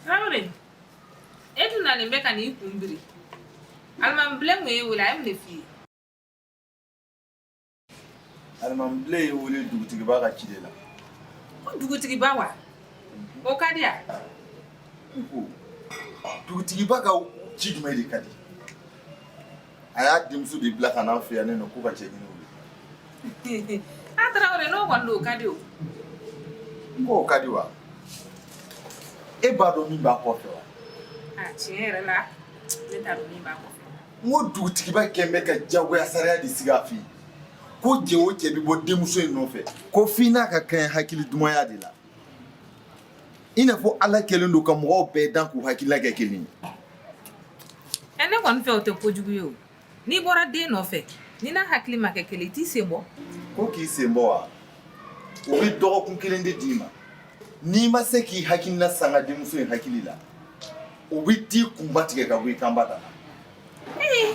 tarawele e dun nalen bɛ ka n'i kun biri alimamibilen kun y'e wele a ye mun de f'i ye alimamibilen ye n wele dugutigiba ka ci de la ko dugutigiba wa o ka di ya dugutigiba ka ci jumɛn de ka di a y'a denmuso de bila ka n'an fɛ yan ne nɔ k'u ka cɛ ɲini wuli a tarawele n'o kɔni don o ka di o n k'o ka di wa e b'a dɔn min b'a kɔfɛ wa a tiɲɛ yɛrɛ la ne t'a dɔn min b'a kɔfɛ n ko dugutigiba kɛn bɛ ka jagoya sariya de sigi a fɛ yen ko cɛ o cɛ bɛ bɔ denmuso in nɔfɛ ko f'i n'a ka kɛɲɛ hakili dumaya de la i n'a fɔ ala kɛlen don ka mɔgɔw bɛɛ dan k'u hakilila kɛ kelen ye ɛ ne kɔni fɛ o tɛ kojugu ye o n'i bɔra den nɔfɛ n'i n'a hakili ma kɛ kelen i t'i sen bɔ ko k'i sen bɔ wa o bɛ dɔgɔkun kelen de d'i ma n'i ma se k'i hakilina sanga denmuso in hakili la o bɛ t'i kunba tigɛ ka bɔ i kanba da la ee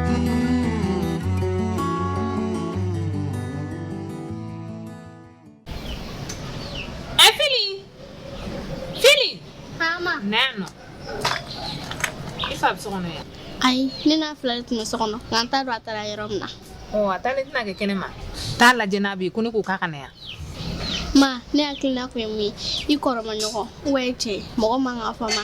Nano. I fa bɛ so kɔnɔ yan. Ayi, ne n'a fila de tun bɛ so kɔnɔ, nka an t'a dɔn a taara yɔrɔ min na. Ɔ, a taalen tɛna kɛ kɛnɛ ma. Taa lajɛ n'a bɛ yen, ko ne k'o k'a ka na yan. Ma, ne hakilina tun ye min ye, i kɔrɔma ɲɔgɔn, ou bien cɛ, mɔgɔ man kan ka fɔ ma.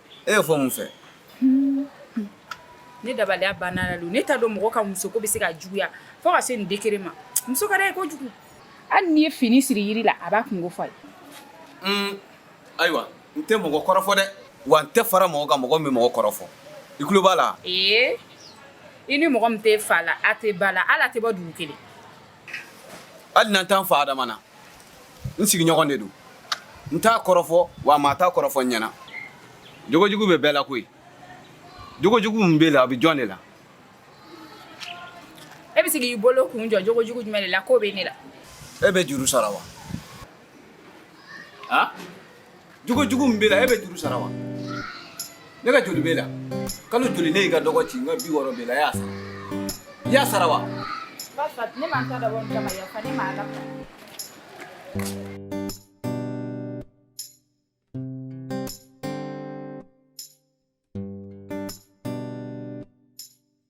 E y'o fɔ mun fɛ? Hun, hun, ne dabaliya banna la don, ne t'a dɔn mɔgɔ ka muso ko bɛ se ka juguya fo ka se nin degrée ma, muso ka d'a ye kojugu, hali n'i ye fini siri yiri la a b'a kunko fɔ a ye. Un, ayiwa n tɛ mɔgɔ kɔrɔfɔ dɛ, wa n tɛ fara mɔgɔ kan mɔgɔ min bɛ mɔgɔ kɔrɔfɔ, i tulo b'a la wa? Ee, i ni mɔgɔ min tɛ fa la, a tɛ ba la, hali a tɛ bɔ dugu kelen. hali n'an t'an fa adama na n sigiɲɔgɔn de don n t'a kɔrɔfɔ wa maa t'a kɔrɔfɔ n ɲɛna jogojugu bɛ bɛɛ la koyi jogojugu min b'e la a bɛ jɔn de la e bɛ se k'i bolo kun jɔ jogojugu jumɛn de la k'o bɛ ne la e bɛ juru sara wa jogo jugu min b'e la e bɛ juru sara wa ne ka joli b'e la kalo joli ne y'i ka dɔgɔ ci n ka bi wɔɔrɔ b'e la e y'a sara i y'a sara wa Ba fa, ne ma n ta dabɔ n kama yafa ne ma Ala fɛ.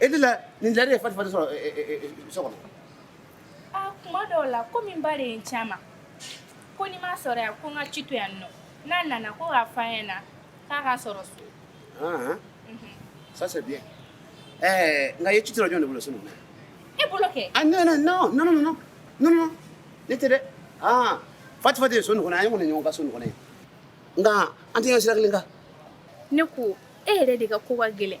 E de la nin lariba ye fa fa sɔrɔ so kɔnɔ kuma dɔw la komi n ba de ye n ci a ma ko ni n ma sɔrɔ yan ko n ka ci to yan nɔ n'a nana ko k'a f'a ɲɛna k'a ka sɔrɔ so ça c'est bien nka ye ci to jɔn de bolo so e bolo kɛ a non ne tɛ dɛ aa Fati ye so nin kɔnɔ an ye kɔni ɲɔgɔn kan so nin kɔnɔ ye nka an tɛ sira kelen kan ne ko e yɛrɛ de ka ko ka gɛlɛn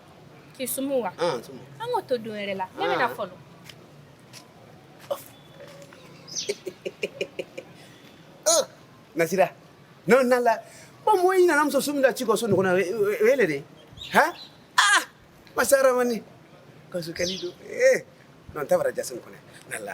k'i sumu wa ah, an k'o to don wɛrɛ la ne bɛna ah. fɔlɔ ah, nasira n'o na la ko mɔgɔ i nana muso sumu da ci kɔ so ɲɔgɔn na o wele dɛ hɛn ah masa ramani kaso kɛli don ee eh, n'o tɛ bara jasin kɔnɛ na la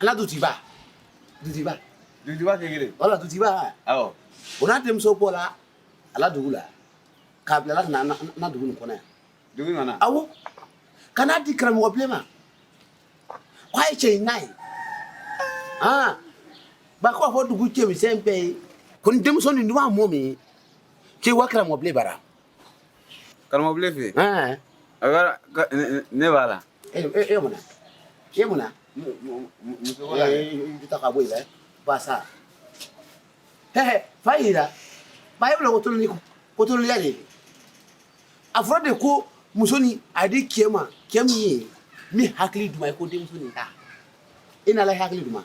ala dutiba dutiba dutiba tɛ kelen wala dutiba awɔ o n'a denmuso bɔla a la dugu la k'a bila ka na na dugu nin kɔnɔ yan dugu nana awɔ ka n'a di karamɔgɔ bilen ma k'a ye cɛ in n'a ye aa ba ko a fɔ dugu cɛmisɛn bɛɛ ye ko ni denmuso nin duman mɔ min k'i wa karamɔgɔ bilen bara Karamɔgɔ bilen fɛ ne b'a la e mun e mun ka bɔ la basa fa yi ba e bɛ ko tulu ko tuluya de a fɔra de ko musonin a di cɛ ma cɛ min ye min hakili duman ye ko denmuso nin ta e na hakili duman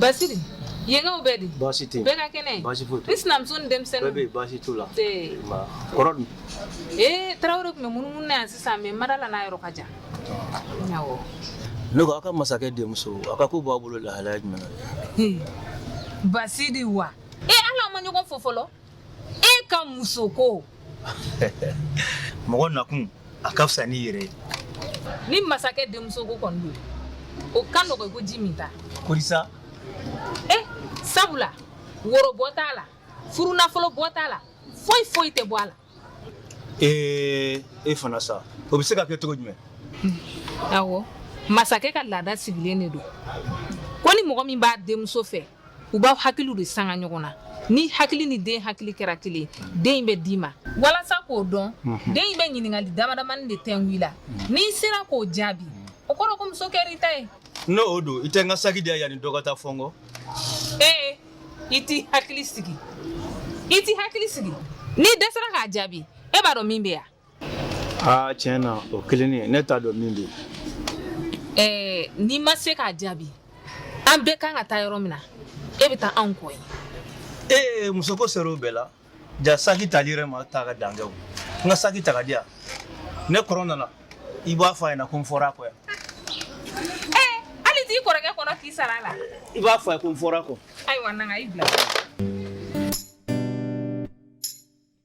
Basidi yenkaw bɛ di baasi tɛ bɛɛ ka kɛnɛ baasi foyi n sinamuso ni denmisɛnnin bɛɛ bɛɛ baasi t'u la kɔrɔ dun ee tarawele tun bɛ munumunu na yan sisan mɛ n ma d'a la n'a yɔrɔ ka jan awɔ ne ko aw ka masakɛ denmuso a ka ko b'a bolo lahalaya jumɛn na basidi wa ee hali an ma ɲɔgɔn fo fɔlɔ e ka musoko mɔgɔ nakun a ka fisa n'i yɛrɛ ye ni masakɛ denmuso ko kɔni don o ka nɔgɔ i ko ji min ta korisa e sabula woro bɔ t'a la furu nafolo bɔ t'a la foyi foyi tɛ bɔ a la ee e fana sa o bɛ se ka kɛ cogo jumɛn awɔ masakɛ ka laada sigilen de don ko ni mɔgɔ min b'a denmuso fɛ u b'aw hakiliw de sanga ɲɔgɔn na n'i hakili ni den hakili kɛra kelen den bɛ d'i ma walasa k'o dɔn den in bɛ ɲininkali damadamani de tɛngu i la n'i sera k'o jaabi o kɔrɔ ko muso kɛra i ta ye n'o don i tɛ n ka saki di yan yanni dɔ ka taa fɔ n kɔ ee i t'i hakili sigi i t'i hakili sigi n'i dɛsɛra k'a jaabi e b'a dɔn min bɛ yan Aa tiɲɛ na o kelen ne t'a dɔn min bɛ yen n'i ma se k'a jaabi an bɛɛ kan ka taa yɔrɔ min na e bɛ taa anw kɔ ee muso ko sera o bɛɛ la ja saki tali yɛrɛ ma taa ka dan kɛ o n ka saki ta ka di yan ne kɔrɔ nana i b'a fɔ a ɲɛna ko n fɔra a kɔ yan ɛɛ hali t'i kɔrɔkɛ kɔnɔ k'i sara a la i b'a fɔ a ye ko n fɔra a kɔ ayiwa na n ka i bila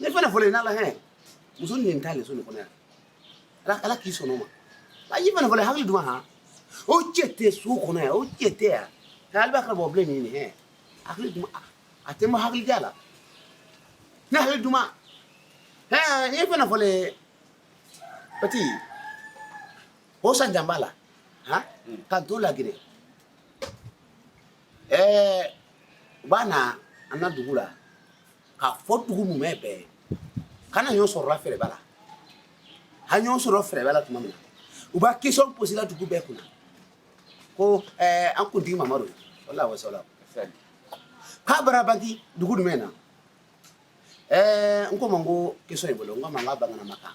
ne fana fɔlɔ n'ala hɛn muso nin t'ale so nin kɔnɔ yan ala ala k'i sɔnna o ma a y'i fana fɔlɔ hakili duma han o cɛ tɛ so kɔnɔ yan o cɛ tɛ yan ka ale b'a kɛra bɔ bilen nin hɛn hakili duma a tɛ ma hakili ja la ne hakili duma hɛn e fana fɔlɔ pati o san jan b'a la han ka to lagere ɛɛ u b'a na an na dugu la k'a fɔ dugu mumɛ bɛɛ ye ka na ɲɔ sɔrɔla fɛrɛba la ha ɲɔ sɔrɔ fɛrɛba la tuma min na u b'a question poser la dugu bɛɛ kunna ko eh, an kuntigi mamadu wala wasala k'a bara banti dugu jumɛn na eh, n ko ma n ko question ye bolo n ko ma n k'a banganama kan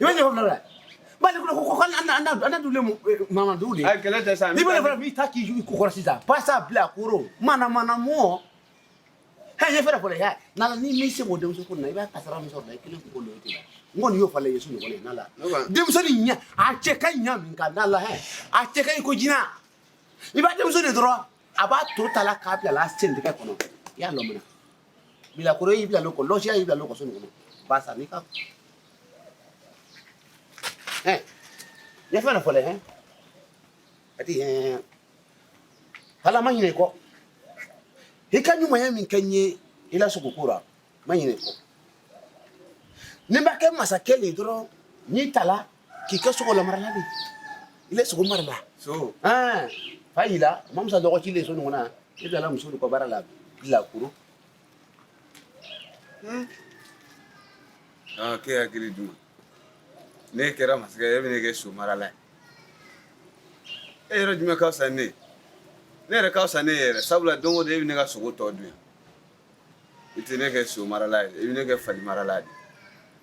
I bɛ jɛgɛ fila bali ko ko ko an an an dule eh, mama dule a kɛlɛ tɛ sa ni bɛ fara b'i ta k'i jugu ko kɔrɔ sisan pasa bila koro mana mana mɔ hɛ ɲɛ fɛrɛ fɔlɔ ya nala ni min se k'o denmuso ko na i b'a kasara min sɔrɔ la i kelen k'o lo tɛ la n kɔni y'o fɔ la yesu ɲɔgɔn ye nala denmuso ni ɲɛ a cɛ ka ɲa min ka nala hɛ a cɛ ka ɲi ko jina i b'a denmuso de dɔrɔn a b'a to ta la k'a bila la a sen tigɛ kɔnɔ i y'a lɔmina bilakoro y'i bila loko lɔsiya y'i bila lɔkɔso nin kɔnɔ basa n'i ka hɛn ne fɛn na fɔlɛ hɛn a ti hɛn ala ma ɲinɛ i kɔ i ka ɲumanya min kɛ n ye i la sogo ko la ma ɲinɛ i kɔ ni b'a kɛ masakɛ le dɔrɔn n'i tala k'i kɛ so lamarala de i bɛ so marala so ah, fa yila mamusa dɔgɔ cilen so nin kɔnɔ i bilala muso de ka baara la bilakoro hmm. ah, ke hakili duma ne kɛra masakɛ ye e bɛ ne kɛ so marala ye e yɛrɛ jumɛn ka fisa ne ye ne yɛrɛ ka fisa ne ye yɛrɛ sabula don o don e bɛ ne ka sogo tɔ dun yan i tɛ ne kɛ so marala ye i bɛ ne kɛ fali marala de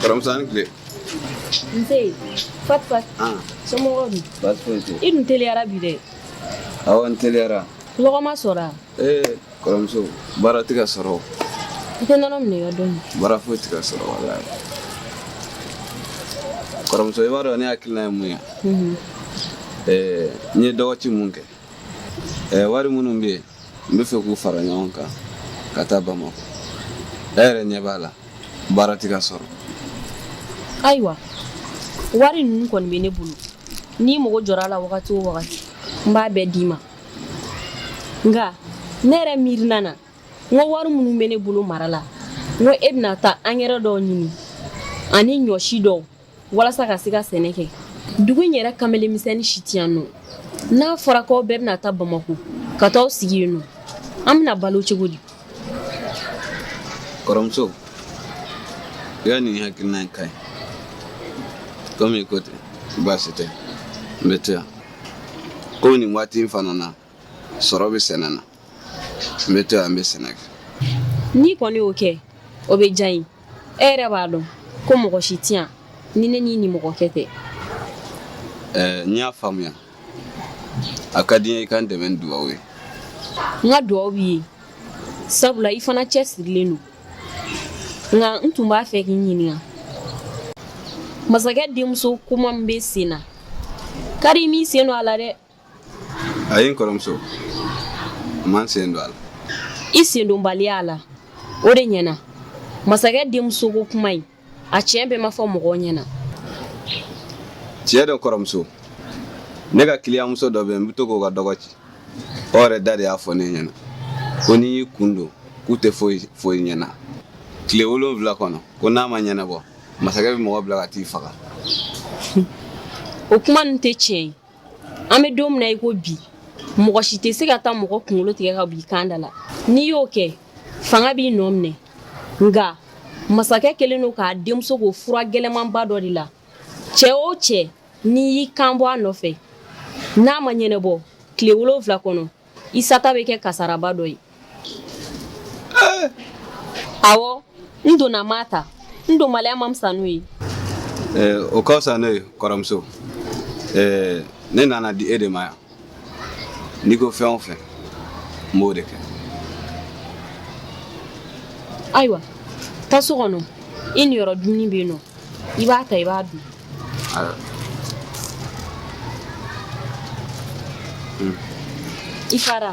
kɔrɔmuso i ni tile nse fati fati an somɔgɔw dun baasi foyi tɛ i dun teliyara bi dɛ awɔ n teliyara lɔgɔ ma sɔrɔ a ee kɔrɔmuso baara tɛ ka sɔrɔ o. i tɛ nɔnɔ minɛ i ka dɔɔni baara foyi tɛ ka sɔrɔ walayi kɔrɔmuso i b'a dɔn ne hakilina ye mun ye ee n ye dɔgɔci mun kɛ Ɛɛ wari minnu bɛ yen n bɛ fɛ k'u fara ɲɔgɔn kan ka taa bamakɔ e yɛrɛ ɲɛ b'a la baara tɛ ka sɔrɔ ayiwa wari ninnu kɔni bɛ ne bolo n'i mago jɔra a la wagati o wagati n b'a bɛɛ d'i ma nka ne yɛrɛ miirina na n ko wari minnu bɛ ne bolo mara la n ko e bɛna taa angɛrɛ dɔw ɲini ani ɲɔsi dɔw walasa ka se ka sɛnɛ kɛ dugu in yɛrɛ kamelenmisɛnnin si tɛ yan nɔ n'a fɔra k'aw bɛɛ bɛna taa bamakɔ ka t'aw sigi yen nɔ an bɛna balo cogo di kɔrɔmuso i ka nin hakilina in ka ɲi komi i ko ten baasi tɛ n bɛ to yan komi nin waati in fana na sɔrɔ bɛ sɛnɛ na n bɛ to yan n bɛ sɛnɛ kɛ n'i kɔni y'o kɛ o bɛ diya n ye e yɛrɛ b'a dɔn ko mɔgɔ si tɛ yan ni ne n'i nimɔgɔkɛ tɛ n y'a faamuya a ka di n ye i ka n dɛmɛ ni dugaw ye n ka dugaw b'i ye sabula i fana cɛsirilen don nka n tun b'a fɛ k'i ɲininka masakɛ denmuso kuma min bɛ sen na kari i m'i sen don a la dɛ Ayi n kɔrɔmuso n ma n sen don a la i sendonbaliya a la o de ɲɛna masakɛ denmuso ko kuma in a tiɲɛ bɛɛ ma fɔ mɔgɔw ɲɛna tiɲɛ don kɔrɔmuso ne ka kiliyanmuso dɔ bɛ yen n bɛ to k'o ka dɔgɔ ci o yɛrɛ da de y'a fɔ ne ɲɛna ko n'i y'i kun don k'u tɛ foyi fɔ i ɲɛna tile wolonwula kɔnɔ ko n'a ma ɲɛnabɔ masakɛ bɛ mɔgɔ bila ka t'i faga o kuma ninnu tɛ tiɲɛ ye an bɛ don min na i ko bi mɔgɔ si tɛ se ka taa mɔgɔ kunkolo tigɛ ka b'i kan da la n'i y'o kɛ fanga b'i nɔ minɛ nka masakɛ kɛlen don k'a denmuso ko fura gɛlɛmanba dɔ de la cɛ o cɛ n'i y'i kan bɔ a nɔfɛ n'a ma ɲɛnɛbɔ tile wolonwula kɔnɔ i sata bɛ kɛ kasaraba dɔ ye awɔ n donna ma ta n donbaliya ma fisa n'o ye o ka fisa n'o ye kɔrɔmuso ne nana di e de ma yan n'i ko fɛn o fɛn n b'o de kɛ ayiwa taa so kɔnɔ i niyɔrɔ dumuni bɛ yen nɔ i b'a ta i b'a dun i fara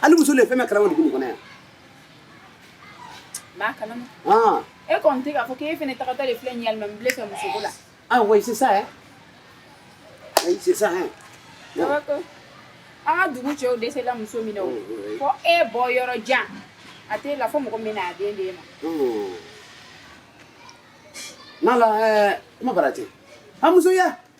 hali muso de ye fɛn bɛɛ kalama dugu nin kɔnɔ yan b'a kalama ah. e kɔni tɛ k'a fɔ k'e fana tagatɔ de filɛ nin ye alimamibile fɛ musoko la ah oui c'est ça hein oui c'est ça hein d'accord an ka dugu cɛw dɛsɛla muso min na o fo e bɔ yɔrɔ jan a tɛ la fo mɔgɔ min na a den de ma n'ala kuma bara ten a muso ye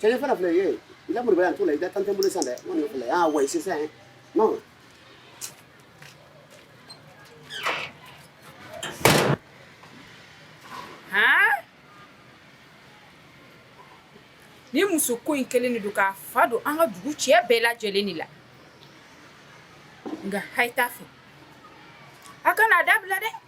cɛ fana filɛ ye i ka moriba yan t'o la i ka tan tɛ bolo san dɛ n kɔni filɛ y'a wa sisan ye non ni musoko in kelen de don k'a fa don an ka dugu cɛ bɛɛ lajɛlen de la nka a ye taa a fɛ a kana a dabila dɛ